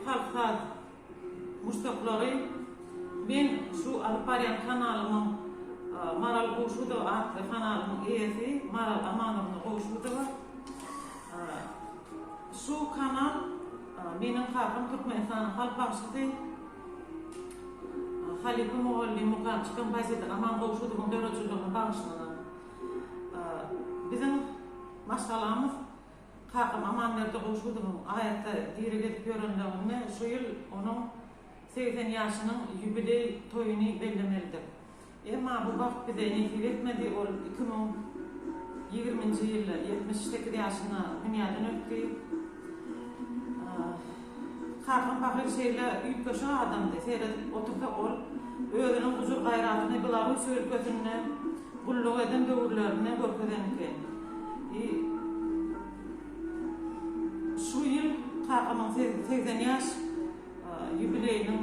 Halk saz muşdaklary men şu alyp barýan kanalymyň Maral Gowşudowa atly kanalymyň eýesi Maral Amanowna Gowşudowa şu kanal meniň kakam Türkmenistanyň halk bagşysy halypa mugallym mukamçy kompozitor Aman Gowşudowyň döredijiligine bagyşlanan biziň maşgalamyz Kakam Amanberdi Gowşudowyň aýatda diri gezip ýörenligini şu ýyl onuň segsen ýaşynyň ýubileý toýuny bellemelidik. Emma bu bagt bize nesip etmedi, ol iki müň ýigriminji ýylda ýetmiş sekiz ýaşyna dünýäden ötdi. Kakam pahyr şeýle üýtgeşik adamdy. Seredip otursak ol özüniň gujur-gaýratyny Belarussiýa ülkesinde gulluk eden döwürlerinde görkezen eken. I Şu ýyl kakamyň segsen ýaş ýubileýiniň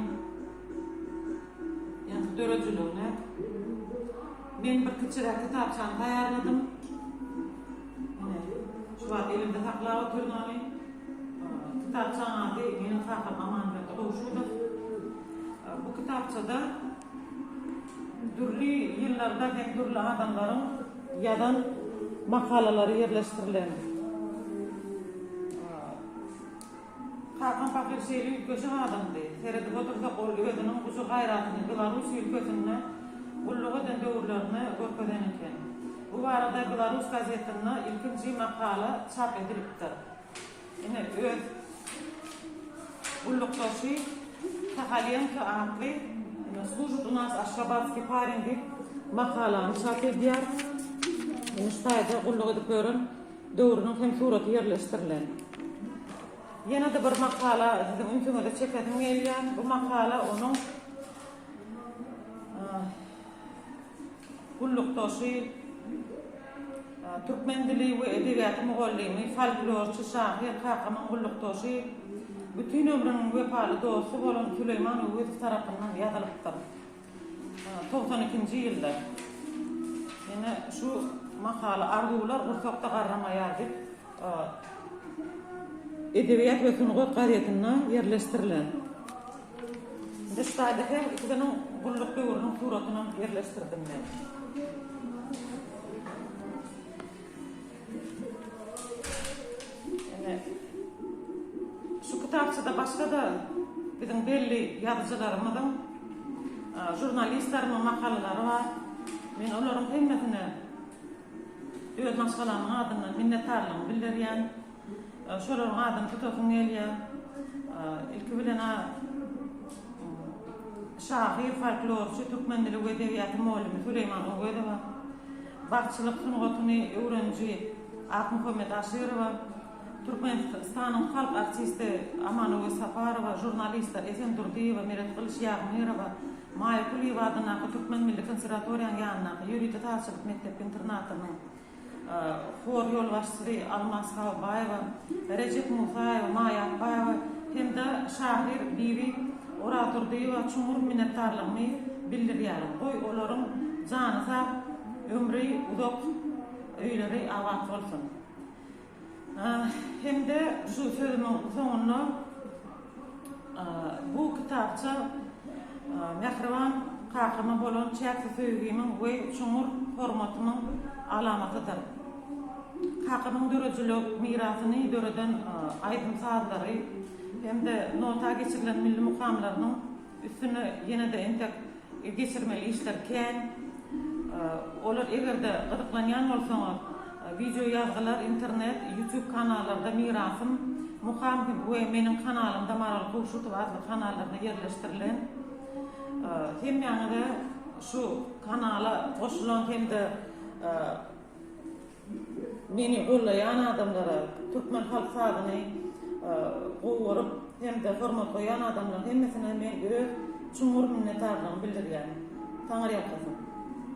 ýa-da döredijiligine men bir kiçiräk kitapçany taýýarladym. Muny şu wagt elimde saklap otyryn ony. Kitapçaň ady meniň kakam Amanberdi Gowşudow. Bu kitapçada dürli ýyllarda hem dürli adamlaryň ýazan makalalary ýerleşdirilen. Kakam pahyr şeýle üýtgeşik adamdy. Seredip otursa gol özüniň gujur-gaýratyny Belarus ülkesinde gulluk eden döwürlerinde görkezen eken. Bu barada Belarus gazetinde ilkinji makala çap edilipdir. Ine, öz gullukdaşy Sahalýenko atly. Slujit u nas aşgabatskiý parin diýip makalany çap edýär. Ine şu taýda gulluk edip ýören. döwrüniň hem suraty ýerleşdirilen. Ýene-de bir makala siziň ünsüňize çekesim gelýär. Bu makala onuň gullukdaşy, türkmen dili we edebiýaty mugallymy, folklorçy, şahyr, kakamyň gullukdaşy, bütin ömrüniň wepaly dosty bolan Süleýman Öwezow tarapyndan ýazylypdyr. Togsan ikinji ýylda ýene şu makaly Arzuwlar gursakda garramaýar diýip, Edebiýat we sungat gazetinde ýerleşdirilen. Indi şu taýda hem ikisiniň gulluk döwrüniň suratyny ýerleşdirdim men. Şu kitapçada başga-da biziň belli ýazyjylarymyzyň, žurnalistlerimiň makalalary bar. Men olaryň hemmesine öz maşgalamyň adyndan minnetdarlygymy bildirýän. Şolaryň adyny tutasym gelýär. Ilki bilen şahyr, folklorçy, türkmen dili we edebiýaty mugallimi Süleýman Owezowa. Bagçylyk sungatyny öwreniji Akmuhammet Aşyrowa, Türkmenistanyň halk artisti Amanöwez Saparowa, žurnalistler Esen Durdyýewa, Meret Gylyç Ýagmyrowa, Maýa Kulyýewa adyndaky Türkmen milli konserwatoriýanyň ýanyndaky ýörite sazçylyk mekdep-internatynyň hor ýolbaşçysy Almaz Habybaýewa, Rejep Musaýew, Maýa Akbaýewa hem-de şahyr Bibi Orazurdyýewa çuňňur minnetdarlygymy bildirýärin. Goý, olaryň jany sag, ömri uzak, öýleri abat bolsun. Hem-de şu sözümiň soňunda bu kitapça mähriban kakama bolan çäksiz söýgimiň we çuňňur hormatymyň alamatydyr. Kakamyň döredijilik mirasyny döreden aýdym-sazlary, hem-de nota geçirilen milli mukamlarynyň üstüne ýene-de entek geçirmeli işler kän. Olar eger-de gyzyklanýan bolsaňyz, wideo ýazgylar internet, YouTube kanallarda Mirasym, Mukam we meniň kanalymda Maral Kowşutowa adly kanallarda ýerleşdirilen. Hemmäňize şu kanala goşulan hem-de Meni gollaýan adamlara, türkmen halk sazyny gowy görüp hem-de hormat goýan adamlaryň hemmesine men öz çuňňur minnetdarlygymy bildirýän. Taňyrýalkasyn!